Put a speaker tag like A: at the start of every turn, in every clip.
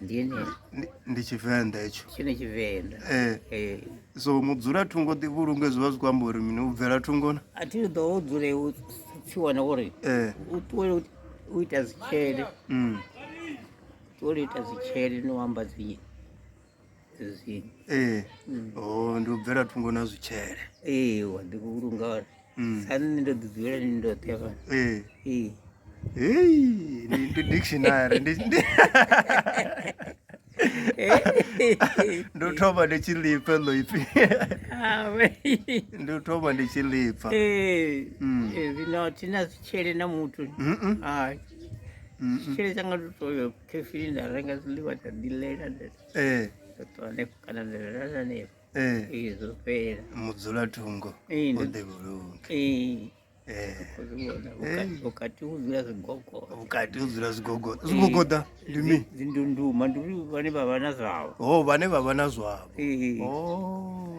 A: ndi tshivenḓa hetsho tshine tshivenḓa ee eh. eh. so mudzula thungo ḓi vhulunge zwi vha zwi khou amba uri mini u bvela thungona a thi ḓo u dzule u tshi wana uri eh. u ṱuwele u ita dzitshele mm. ṱuwele u ita dzitshele ni u amba dzinyi ezwini ee Mm. o ndi u bvela thungo na zwitshele ee wa ḓi vhulunga hone Mm. sa nṋe ndo ḓi dzulela ni ndoṱhe hafha ee ee Hey, ndi ndi dictionary ndi ndi- ndi u thoma ndi tshi lipfa ḽo ipfi awe ndi u thoma ndi tshi lipfa ee Mm. ee, zwino thina zwitshele na muthu Mm-mm. hai Mm-mm. tshitshele tsanga ndo toyo khefini nda renga zwiḽiwa nda ḓilela nda eh. eh. mudzulatungo o ḓe vhulunge Eh. Eh. vhukati hu dzula zwigogo vhukati hu dzula zwigogo eh. zwigogoda ndi mi dzindunduma ndi vhane vha vha na zwavho ho oh, vhane vha vha na zwavho oh.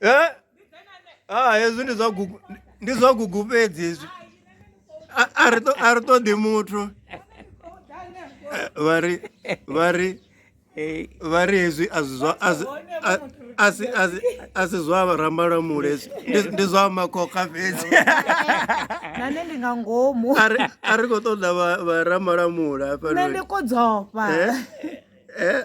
A: eh ah hezwi ndi zwa gugu ndi zwa gugu fhedzi hezwi a ri a ri ṱoḓi muthu eh, vha ri vha ri eh. vha ri hezwi a zwi zwa a si zwa ramba lwa mule ndi zwa makhokha fhedzi nane ndi nga ngomu a ri khou ṱoḓa vha ramba lwa mule hafhanoni ndi kodzofha eh, eh.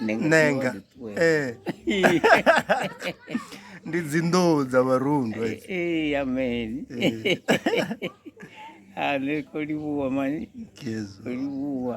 A: nenga eh. ndi dzinḓou dza vharundwa eh, eh, amen a ah, ne ko livhuwa mani ko livhuwa